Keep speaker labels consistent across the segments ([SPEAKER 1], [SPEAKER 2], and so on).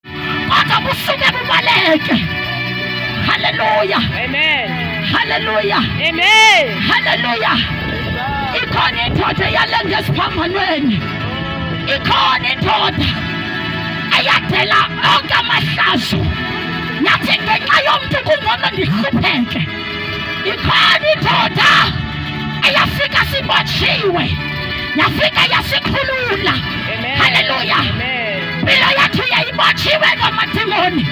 [SPEAKER 1] Acha kusuka kubaleke. Haleluya. Amen.
[SPEAKER 2] Haleluya.
[SPEAKER 1] Amen.
[SPEAKER 2] Haleluya.
[SPEAKER 1] Ikhona indoda eyalenza esiphambanweni. Ikhona indoda eyadela onke amahlazo. Nathi ngenxa yomntu kungcono ndihlupheke. ikhona indoda eyafika sibotshiwe yafika yasikhulula haleluya impilo yethu yayibotshiwe ngamadimoni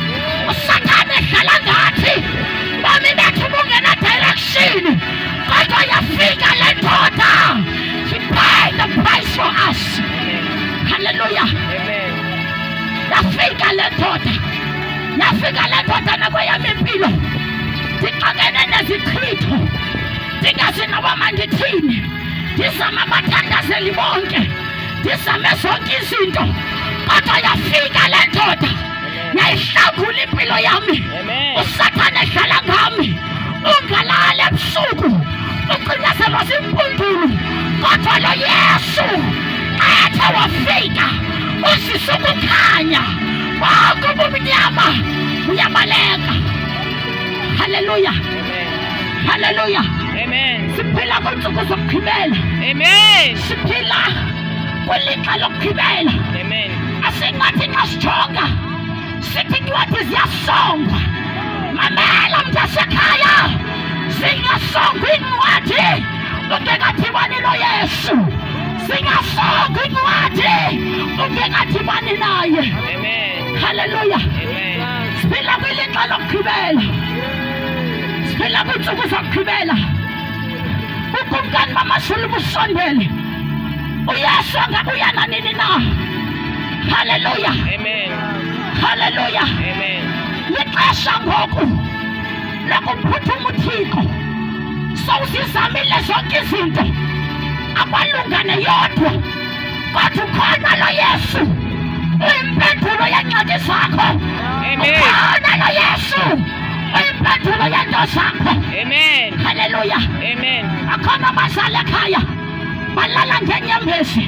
[SPEAKER 1] usathane ehlala ngathi bomi bethu bungena direction kodwa yafika le ndoda she paid the price for us haleluya yafika le ndoda Yafika le ndoda nakweyam impilo ndixakene nezichitho ndingazi noba mandithini ndizama abathandazeli bonke ndizame zonke izinto kodwa yafika le ndoda yayihlangula impilo yami usathane edlala ngami ungalali ebusuku ucinezelo zimpundulu kodwa lo yesu athe wafika usisa ukukhanya Mungu mnyama uyabaleka. Haleluya, haleluya,
[SPEAKER 2] siphila kwensuku
[SPEAKER 1] zokugqibela,
[SPEAKER 2] siphila
[SPEAKER 1] kwilixa lokugqibela.
[SPEAKER 2] Asingathi xa
[SPEAKER 1] sijonga sithi incwadi ziyasongwa. Mamela mntasekhaya, zingasongwa iincwadi ungekadibani noYesu. Singafaa kwinqwathi ubingadibani naye.
[SPEAKER 2] Haleluya. Siphila kwilixa
[SPEAKER 1] lokugqibela. Siphila kwiintsuku zokugqibela. Ukumkani bamashulu busondele. Uyesu angabuya nanini na. Haleluya.
[SPEAKER 2] Haleluya. Lixesha
[SPEAKER 1] ngoku. lakumphuthuma uthixo sowusizamile zonke izinto akwalungane yodwa kodwa ukhona lo yesu uyimpendulo yeencwadi zakho ukhona lo yesu uyimpendulo yeento zakho haleluya
[SPEAKER 2] akhona abazali
[SPEAKER 1] ekhaya balala ngeenyembezi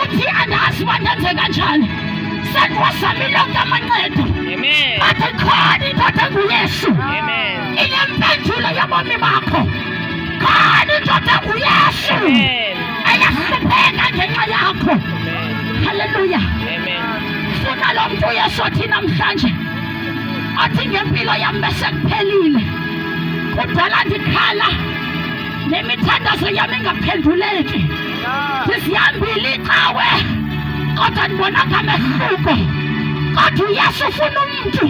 [SPEAKER 1] uthi andazi uba ndenze kanjani sekwasami lonke amancedo athi
[SPEAKER 2] khona
[SPEAKER 1] indoda enguyesu
[SPEAKER 2] inempendulo
[SPEAKER 1] yobomi bakho khona indoda enguyesu
[SPEAKER 2] eyahlupheka
[SPEAKER 1] ngenxa yakho halleluya
[SPEAKER 2] funa lo
[SPEAKER 1] mntu uyesu othi namhlanje athi ngempilo yam besekuphelile kudala ndikhala le mithandazo yam ingaphenduleki ndizihambile icawe kodwa ndibona ngamehluko kodwa uyesu ufuna umntu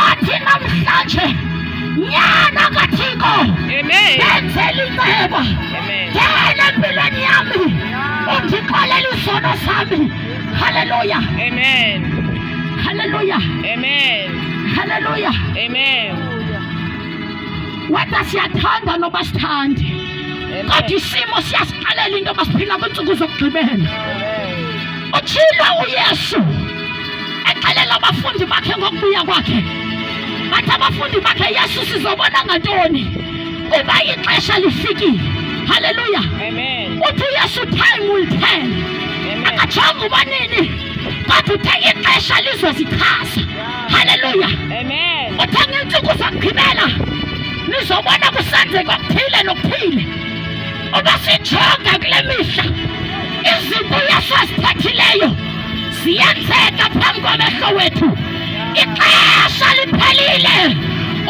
[SPEAKER 1] athi namhlanje nyana kathixo
[SPEAKER 2] ndenzela
[SPEAKER 1] inceba
[SPEAKER 2] ngena empilweni
[SPEAKER 1] yami undixolela izono sami halleluya
[SPEAKER 2] halleluya halleluya
[SPEAKER 1] whether siyathanda noba sithande kodwa isimo siyasixelela into yoba siphila kwiintsuku zokugqibela utshilo uyesu exelela abafundi bakhe ngokubuya kwakhe bathi abafundi bakhe yesu sizobona ngantoni kuba ixesha lifikile halleluya uthi
[SPEAKER 2] uyesu time
[SPEAKER 1] will tell akajonga uba nini kodwa uthe ixesha lizosichaza haleluya
[SPEAKER 2] uthanga iintsuku
[SPEAKER 1] zagqibela nizobona kusenzeka okuthile nokuthile uba sijonga kule mihla izinto yasaziphathileyo ziyenzeka phambi kwamehlo wethu ixesha liphelile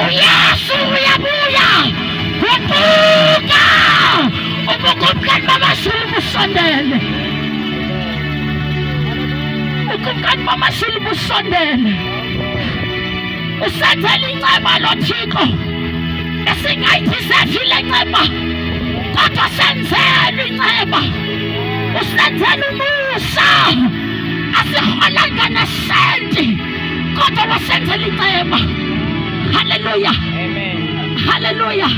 [SPEAKER 1] uyesu uyabuya guquka ubukumkani bamazulu busondele Ukumkani bamashulu busondele usenzela inceba lo Thixo esingayithi sedlile inceba kodwa senzelwe inceba usenzela umusa asiholanga nesenti kodwa wasenzela inceba haleluya
[SPEAKER 2] haleluya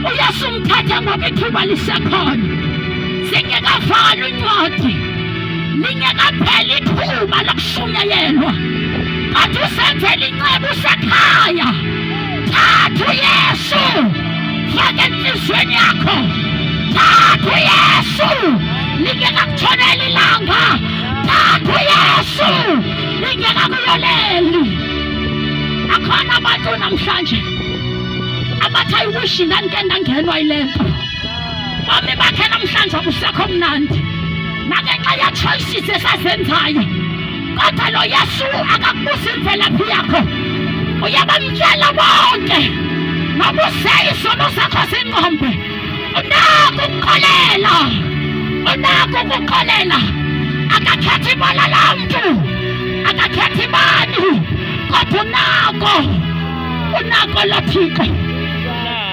[SPEAKER 1] uyasumthatha ngoba ithuba lisekhona singekavali incwadi lingekapheli ithuba lokushunyayelwa athi usenzela inceba usekhaya thatha uyesu fake entliziyweni yakho thatha uyesu lingekakutshoneli ilanga thatha uyesu lingekakuyoleli akhona abantu namhlanje abathi ayiwishi ndandike ndangenwa yile nto Mame bakhe namhlanje akusekho mnandi nangenxa yechoices esazenzayo kodwa lo yesu akakubuza imvelaphi yakho uyabamtshela bonke noba useyisono sakho singqombe unako ukukholela unako ukukholela akakhethi ibala lamntu akakhethi ibani kodwa unako unako lothixo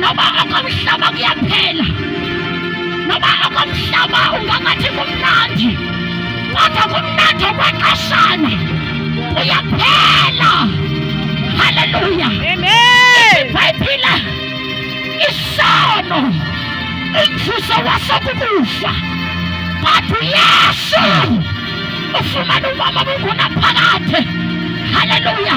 [SPEAKER 1] noba okomhlaba kuyaphela noba okomhlaba ungangathi kumnandi kodwa kumnandi okwexeshana uyaphela haleluya ibhayibhile isono umvuzo waso kukufa but uyesu ufumana umama bungunaphakade haleluya